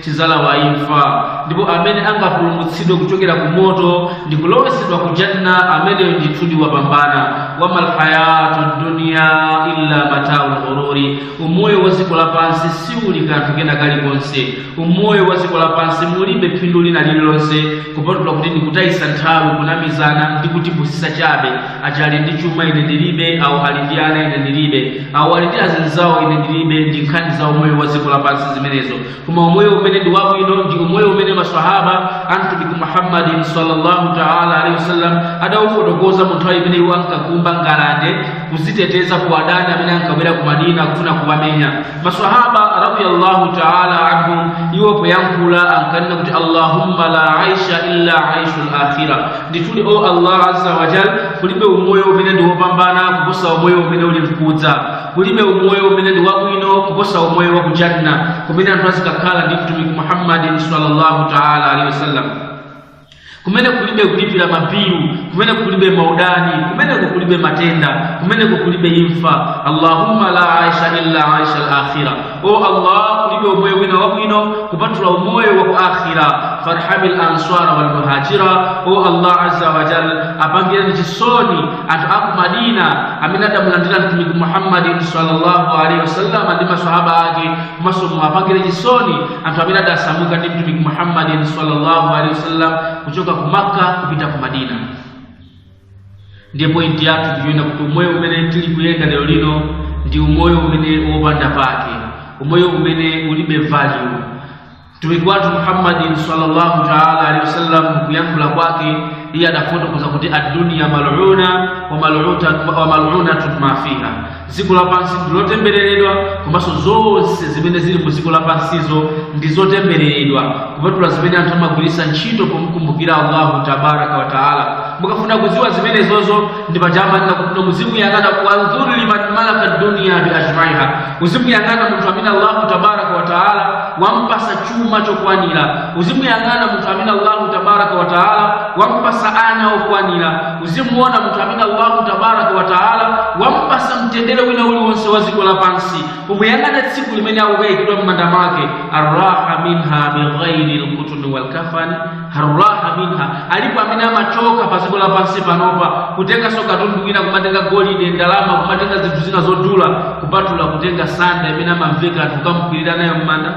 tidzalawa imfa ndipo amene angapulumutsidwe kuchokera ku moto ndi kulowesedwa ku janna ameneyo ndithudi wapambana wamal hayatu dunya illa mataul ghururi umoyo wa dziko lapansi siuli kanthu kena kalikonse umoyo wa dziko lapansi mulibe phindu lina lililonse kupatula kuti ndikutayisa nthawi kunamizana ndi kutipusisa chabe aja ali ndi chuma ine ndilibe awo ali ndi ana ine ndilibe awo ali ndi azinzawo ine ndilibe ndi nkhani za umoyo wa dziko lapansi zimenezo koma umoyo umene ndi wabwino ndi umoyo umene maswahaba a mtumiki muhammadin sallallahu taala alaihi wasallam adaufotokoza mu nthawi imene iwo ankakumba ngalande kuziteteza ku adani amene ankabwera ku madina kufuna kuwamenya maswahaba radiyallahu taala anhum iwo poyankhula ankanena kuti allahumma la aisha illa aishu lakhira ndithudi o allah azza wajal kulibe umoyo umene ndi wopambana kuposa umoyo umene uli mkudza kulibe umoyo umene ndi wabwino kuposa umoyo wa ku janna kumene anthu azikakhala ndi mtumiki muhammadin sallallahu taala alaihi wasallam kumene kulibe kulipira mabilu kumene kulibe maudani kumeneko kulibe matenda kumeneko kulibe imfa allahumma la aisha illa aisha alakhira o allah kulibe umoyo wina wabwino kupatula umoyo wa ku akhira farhami lansara walmuhajira o allah aza wajal apangireni chisoni anthu aku madina amene adamulandira mtumiki muhammadin sallallahu alaihi wasallam ndi masahaba ake komanso muwapangire chisoni anthu amene adasamuka ndi mtumiki muhammadin sallallahu alaihi wasallam kuchoka ku makka kupita ku madina ndiye pointi yathu ndi yonena kuti umoyo umene tili kuyenda lero lino ndi umoyo umene wopanda pake umoyo umene ulibe value mtumiki wathu muhammadin sallallahu taala alehi wasallam kuyankhula kwake iye adafotokoza kuti adduniya maluna wa malunatun ma fiha dziko lapansi ndi lotembereredwa komanso zonse zimene zili mu dziko lapansizo ndi zotembereredwa kupatula zimene anthu amagwiritsa ntchito pomkumbukira allahu tabaraka wa taala mukafuna kudziwa zimenezozo ndi paja amanena kuti muzimuyang'ana wanzuru liman malaka dunia bi ajmaiha uzimuyang'ana munthu amene allahu tabaraka wa taala wampasa chuma chokwanira uzimuyang'ana munthu amene allahu tabaraka wa taala wampasa ana okwanira muzimuona munthu amene allahu tabaraka wataala wampasa mtendere wina uliwonse wa dziko lapansi kumuyang'ana tsiku limene akukayikidwa m'manda mwake arraha minha bighairi lkutuni walkafani arraha minha alipo amene amachoka pa dziko lapansi panopa kutenganso katundu wina kumatenga golide ndalama kumatenga zinthu zina zodula kupatula kutenga sanda imene amamveka n'kukamkwirira nayo m'manda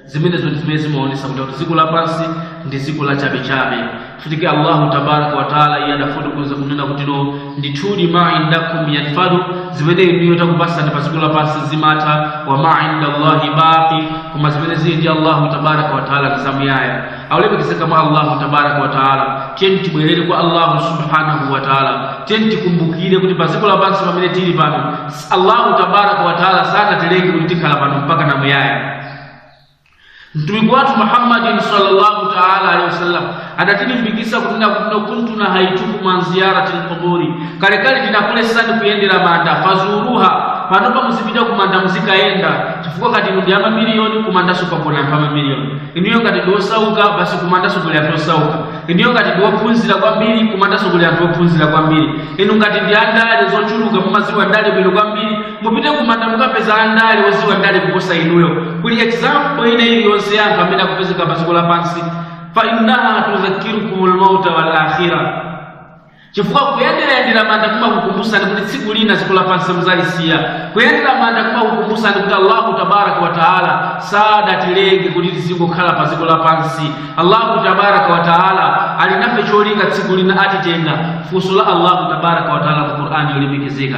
zimenezo ndi zimene zimaonesa kuti kuti dziko lapansi ndi dziko la chabechabe futike allahu tabaraka wataala iye adafotokoza kunena kutino ndithudi ma indakum yanfadu zimene inuyo takupasani pa dziko lapansi zimatha wa ma inda llahi baqi koma zimene zili ndi allahu tabaraka wataala ndi zamuyaya aulemekezeka mwa allahu tabaraka wataala tiyeni tibwerere kwa allahu subhanahu wataala tiyeni tikumbukire kuti pa dziko lapansi pamene tili pano allahu tabaraka wataala sanatilenge kuti tikhala pano mpaka na muyaya mtumiki wathu muhammadin sallallahu taala alehi wasallam adatilimbikisa kunena kuti no kuntu nahaitukum an ziyarati lquburi kalekale tinakulesani kuyendera manda fazuruha panopa muzipita kumanda muzikayenda chifukwa ngati inu ndi amamiliyoni kumandanso kukagona anthu amamiliyoni inuyo ngati ndiosauka basi kumandanso kuli anthu osauka inuyo ngati ndi ophunzira kwambiri kumandanso kuli anthu ophunzira kwambiri inu ngati ndi andale zochuluka mumaziwa ndale bwino kwambiri mupite kumanda mukapeza andale oziwa ndale kuposa inuyo kuli example ina iliyonse ya anthu amene akupezeka pa dziko lapansi fa innaha tudhakirukum lmauta wal akhira chifukwa kuyenderayendera manda kumakukumbusani kuti tsiku lina dziko lapansi muzalisiya kuyendera manda kumakukumbusani kuti allahu tabaraka wa taala sadatilenge kuti tizingokhala pa dziko lapansi allahu tabaraka wa taala ali nafe cholinga tsiku lina atitenga funso la allahu tabaraka wa taala ku qur'ani yolemekezeka